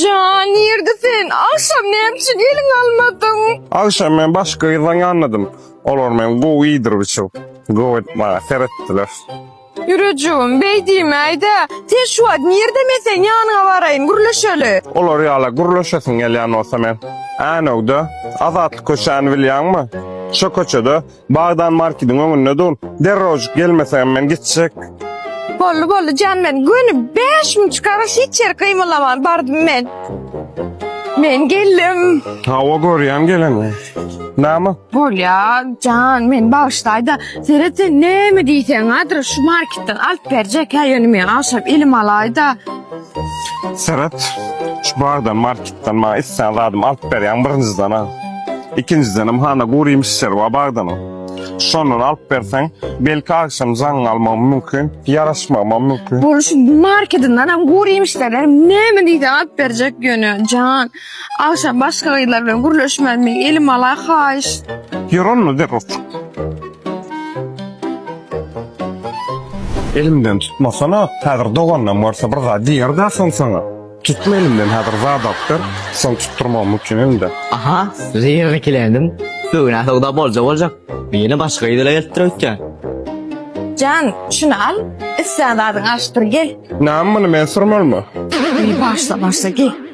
Jan, nirde sen? Agşam näme üçin eliňe almadyň? Agşam men başga gyzdan ýanladym. Olar meni gowy iýdirip-içirip, gowy edip maňa seretdiler. Ýürejigim, beý diýmäý-dä. Sen şu wagt nirde men seň ýanyňa baraýyn, gürleşeli. Olar ýala gürleşesiň gelýän bolsa men. Änew-de, Azatlyk köçäni bilýäňmi? Şo köçede Bagdan markediň öňünde dur. Derrojyk gelmeseňem men gitjek. Boldy boldy jan men göni bäş müň çykara hiç ýer gymylaman bardym men. Men geldim. Hawa görýän geleni. Näme? Bolýa jan men bagyşlaýda seret sen näme diýseň adres şu marketden alyp berjek hä ýöne men agşam elim alaýda. Seret, şu bardan, marketden maňa islän zadymy alyp berýäň, birinjiden-ä. Ikinjidenem hana gury ýemişleri bar bagdanyň. Şondan alyp berseň, belki agşam jaňyň almagam mümkin, ýaraşmagam mümkin. Bolşy, markedinden hem gury ýemişlerden hem näme diýseň alyp berjek ýöne, jan. Agşam başga gyzlar bilen gürleşmezmi elim ala haýyş. Ýör onda zerurçyk. Elimden tutmasana häzir doganynam görse bir zat diýerdä soň saňa. Tutma elimden häzir zat alyp ber soň tutdyrmagym mümkin elimde. Aha zerur ikilendim bugünä söwda bolja boljak ýene başga gyz ile gelipdir öýtýän. Jan şuny al islän zadyňy alyşdyr gel. Näme muny men sürmelimi. Başla başla gel.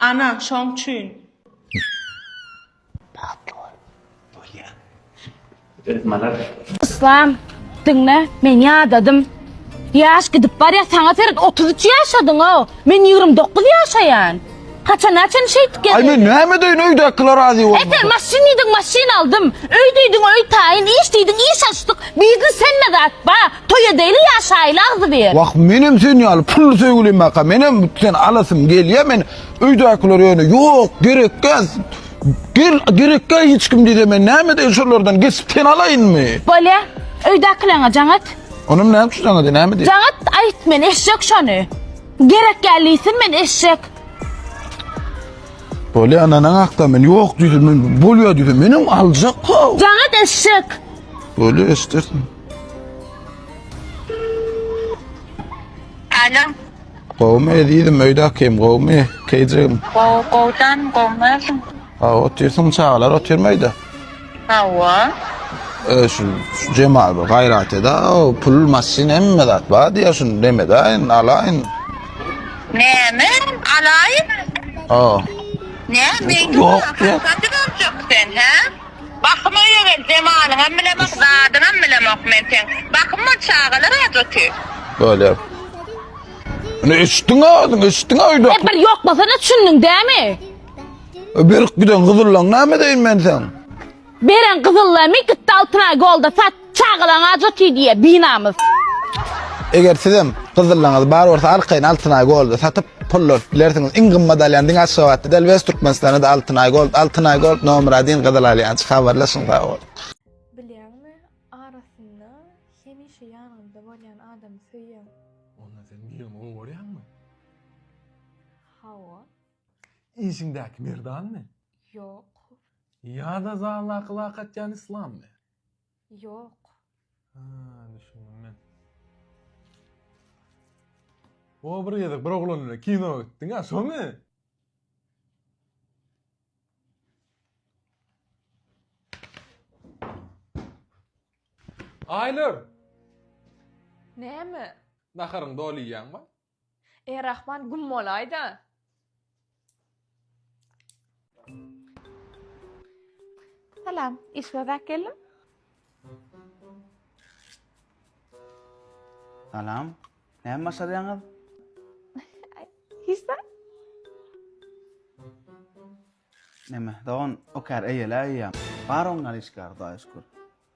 Ana, şoň üçin. Bagtly bol. Bolýa. Öz malar. Yslam, diňle, men ýadadym. Ýaş gidip barýa, saňa seret otuz üç ýaşadyňo, men ýigrimi dokuz ýaşaýan. Haçana çyn şeýdip gezýäň? Aý, men näme edeýin, öýdäkiler razy bolmasa. Esen maşyn diýdiň, maşyn aldym. Öý diýdiň, öý taýyn, iş diýdiň, iş açdyk. Biznes hemme zat bar. Toý edeýli ýaşaýyly agzybir. Wah menem sen ýaly pully söýgülimaka menem sen alasym gelýä men öýdäkiler ýöne ýok gerekgäs gel gerekgä hiç kim diýse men näme edeýin şolardan geçip seni alaýynmy. Bolýa öýdäkileňe jaň et. Onam näme üçin jaň edýä näme diýip. Jaň et aýt men eşek şony gerekgä liýsin men eşek. Bolýa ynanaň hakda men ýok diýse men bolýa diýse menem aljak how. Jaň et eşek. Bolýa eşdersiň. Alo. Gowmy ezizim öýdä kim gowmy keýjegim. Gow gowdan gowmyň. Ha otyrsyň çagalar otyrmy öýdä? Hawa. E, şu Jemal bir gaýrat eda pul maşyn hemme zat bar diýär şunu demedaýyn alaýyn. Näme? Alaýyn. Ha. Ne? Meňki Ýok, ýok. sen, hä? Bahym öýe gel zemanyňam bilemok zadyňam bilemok men seň bahym bol çagalar ajoty. Bolýar. Ine eşitdiňä özüň, eşitdiňä öýdäki. Hep bir ýok bolsana düşündiň dämi? E, Berip giden gyzyllaň näme deýin men seň? Beren gyzyllamy gitdi Altynaý golda satdy. Çagalaň aja tiý diýýä binamys. Eger sizem gyzyllaňyz bar bolsa arkaýyn Altynaý Gold-a satyp pul alyp bilersiňiz. Iň gymmat alýan diňe Aşgabatda däl wes Türkmenistanda-da Altynaý Gold. Altynaý Gold nomer adin gyzyl alýançy. Habarlaşyň sag boluň. Bilýäňmi arasynda hemişe ýanyňda bolýan adamy söýýäň. Onda sen birini gowarýaňmy? Hawa. Işiňdäki merdanmy? Ýok. Ýa-da zaldaky lakatýan islammy? Ýok. Ha, düşündim men. O bir gezek bir oglan bilen kino gitdiň a, şomy? Aýnur! Näme? Naharyňy doly iýýäňmi? Eý Rahman güm bolaýda. Salam, iş bozak geldim. Salam. Näme başarýaňyz? Hiç zat. Näme, dogan, okar eýele eýýäm. Bar oňňar işgär, Hudaýa şükür.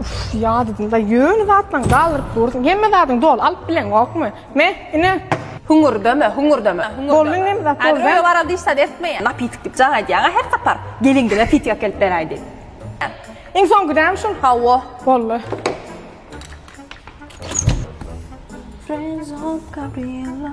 Uf, ya dedim da yöne zatlan galırıp dursun. Hemme zatın dol alıp bilen yok mu? Me, ine. Hungur deme, hungur deme. Bolun ne mi zat bolun? Öyle varal dişten etme ya. Napitik dip can ediyana her sapar. Gelin gile pitik akelip beraydi. İn son gidem şun. Ha o. Bolun. Friends of Gabriela.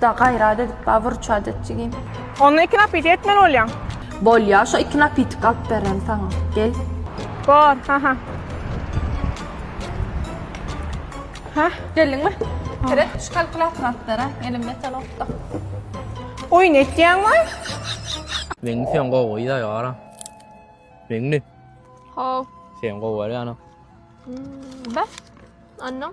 Da gayrat edip ba vurçat etjigin. Onda iki napiti etmeli bolýaň. Bolýa şo iki napitik alyp beren saňa. Gel. Bor, ha ha. Ha? Geldiňmi? Kire şu kalkulator alyp bere. Elimde telefon. Oyun etýäň mi? Meňli sen gowy da ýara. Meňli. Ho. Sen gowy ýara. Bas. Anna.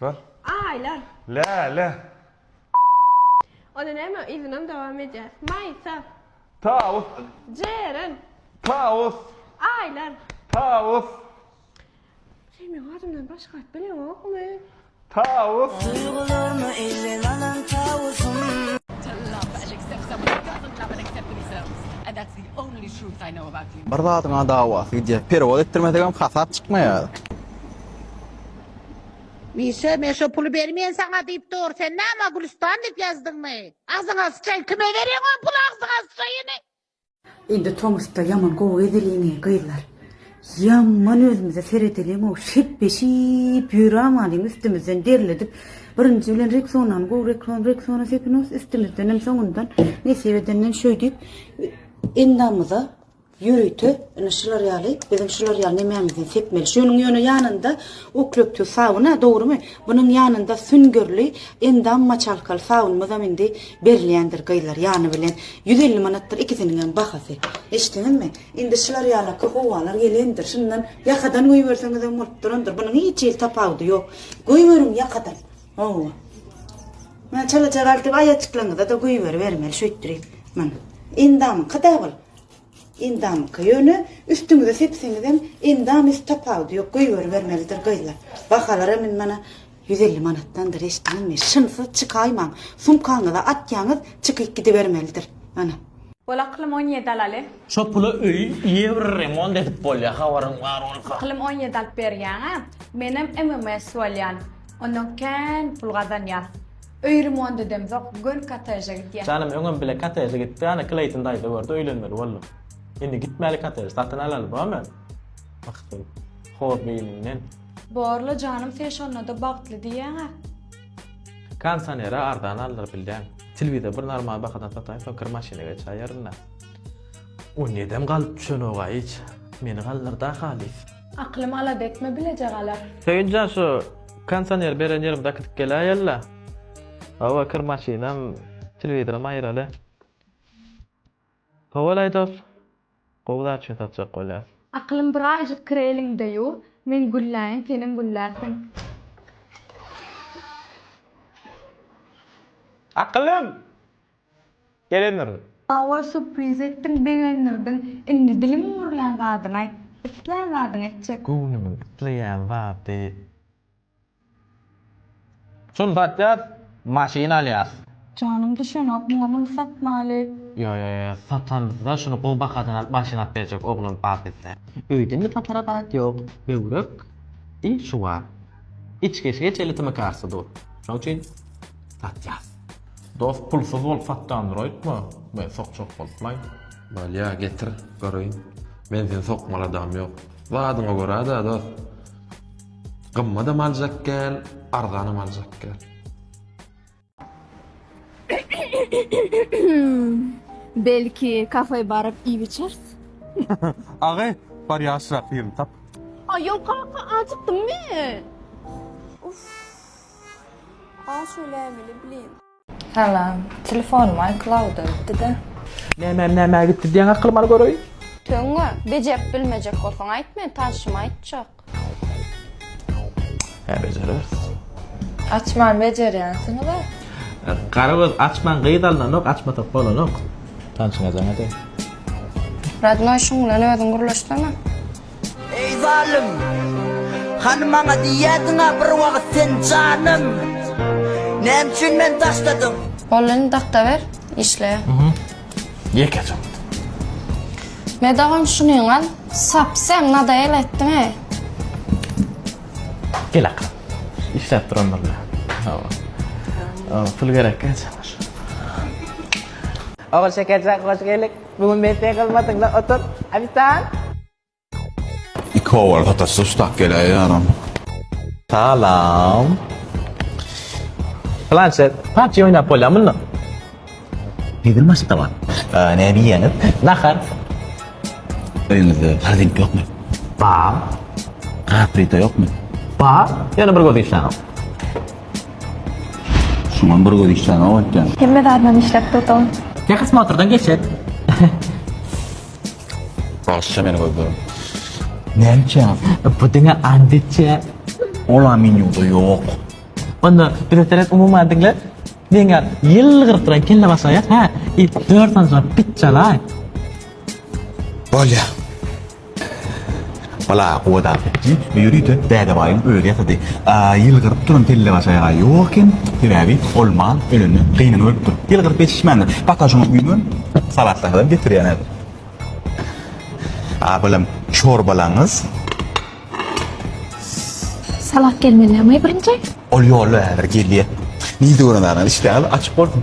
Bar. Aýlan. Läle. Ony näme yzynam dowam edýär. Maýsa. Tawus. Jeren. Tawus. Aýlan. Tawus. Sen meň adymdan başga at bileňokmy? Tawus. Duýgularymy elden alan tawusym. Bir zadyňa dawasy gidýär. Perewod etdirmesegem hasap çykmaýar. Mişa men şo puly bermeýän saňa diýip dur sen näme Gülüstan diýip ýazdyňmy? Agzyňa syçaýyn kime berýäň o puly agzyňa syçaýyny. Indi tomusda ýaman gowy gezeliňi gyzlar. Ýaman özümize seredeliňow şepbeşip ýörämalyň üstümizden derledip birinji bilen Rexonany gowy Rexon Rexona sepinos üstümizdenem soňundan nesip edenden şöýdip endamyza Ýörite ine şular ýaly biziň şular ýaly nemämizi sepmeli. Şunuň ýöne ýanynda uklöptüw sabuny dogrymy? Bunuň ýanynda süňňürli endam moçalkaly sabunymyzam indi berilýändir gyzlar ýany bilen. Ýüz elli manatdyr ikisiniňem bahasy. Eşdiňizmi? Indi şular ýalaky howalar gelendir. Şundan ýakadan goýberseňizem bolup durandyr. Bunuň hiç hili tapawudy ýok. Goýberiň ýakadan. Hawa. Maňa çalaja galdy aýajyklaryňyza-da goýberibermeli şeýtdirip. Mana. Endamyňky-da bul. Endamyka ýöne üstüňize sepseňizem endam üst tapawudy ýok göýberibermelidir gyzlar bahalaram indi mana ýüz elli manatdandyr eşitdiňiz mi şynsyz çykaýmaň sumkaňyza atýaňyz çykyp gidibermelidir mana. Bol aklym on ýedi alaly. Şo pula öýi ýewr remont edip bolýa habaryň bar bolsa. Aklym on ýedi alyp berýäňä menem MMS bolýan ondan kän pul gazanýas. Öý remont edemzok, göni kottejä gitýän. Janym öňem bile kotteje gitdi, ana Kleýton daýza gördi, öýlenmeli boldum. Indi gitmäli kotteje, satyn alaly bomy? Bakytly. Hor beýniňden. Bor-la janym sen şonda-da bagtly diýýäň-ä. Kondisioneri arzan aldyryp bilýäň. Telewizor bir normal bahadan sataýyn, soň kir maşyna geçäýerin-dä. Ony edem galyp düşenok-a hiç. Meni galdyr-da halys. Akylym alada etme bileje galar. Söýünjan şu konsoner beren ýerim dakydyp geläýella. Hawa kir maşynam telewizoram aýyraly. Howal aýdos gowy zat üçin satjak bolýas. Akylym bir aýjyk kir eliňde ýuw men gülläýin senem güllärsiň. Akylym! Gelendir. Hawa surpriz etdiň begendirdiň indi diliň ümürlän zadyňy aýt islän zadyňy etjek. Göwnümiň isleýän zady. Şuny satýas maşyn alýas. Janyň düşenok muňa muny satmaly. Ýo ýo ýo satamyzda şuny gowy bahadan alyp maşyn alyp berjek oglan bar bizde. Öýde indi satara zat ýok böwrek i şu bar. Içgeçgeç elitimi kartda dur şoň üçin satýas. Dost pulsuz bolup satýan dur aýtma men sokjak bolupmaýyn. Bolýa getir göreýin. Men seni sokmaly adam ýok. Zadyňa görä-dä dost. Gymmadam aljak gel, arzanam aljak gel. Belki kafe baryp iýip içeris? Agay bar ýaşrak ýerini tap. Aýol kaka acykdym men. Uff. A şölämili blin. Salam. Telefonym iCloud-a gitdi-de. Nämem nämä gitdi diýäň akylyma al göreýin. Töňňe, bejerip bilmejek bolsaň aýt men tanşyma aýtjak. Hä bejereris. Açman bejerýänsiňiz-ä. Garagöz açman gyz alnanok açmasak bolanok. Tanşyňa jaň edäý. Radnoý şuň bilen özüň gürleşsene. Eý zalym! Hany maňa diýerdiň-ä bir wagt sen janym! Näme üçin meni daşladyň? Boldy indi dakda ber, işleýär. Ýeke çyk. Me dagam şunyň al. Sap sen nadaýel etdiň-eý. Gel akyryn. Işläp durandyr bile. Pul gerekkä çenli şu. Ogulşekerjan hoş geldiň. Muny men sen gylmadyňla otur ofisan. Iki owal hatasy ustap geläýe ýaram. Salam. Planşet, PUBG oýnap bolýa munda? Hezil maşkda bar. Näme iýýäňiz? Nahar. Öýüňizde holding ýokmy? Bar. Gaz plita ýokmy? Bar, ýöne bir gözi işlänok. Şuňam bir göz işlänok öýtýän. Hemme zadynam işläp durdy. Tehosmotrdan geçek. Bagşyça meni gözlerim. Nämçe? Bu diňe andiçe. Ola menýuda ýok. Onda bize seret umumy adiňle. Diňe ýylgyryp duran kelle başa ýat, hä? Dört sanjyma pit çalaý. Bolýa. Bala, gowa dagy. Bu ýörite Dädebaýyň özi ýasady. Ýylgyryp duran tellebaşaýaga ýok eken, sebäbi ol mal ölende gynyny ölüpdir. Ýylgyryp ýetişmändir. Pata şoňa güýmen, salatlasadan getirýän häzir. A, balam, çorbalaňyz. Salat gelmeli näme birinji? Ol ýolda häzir gelýär. Nji gören zadyňyz işdäňiz açyk bolsun.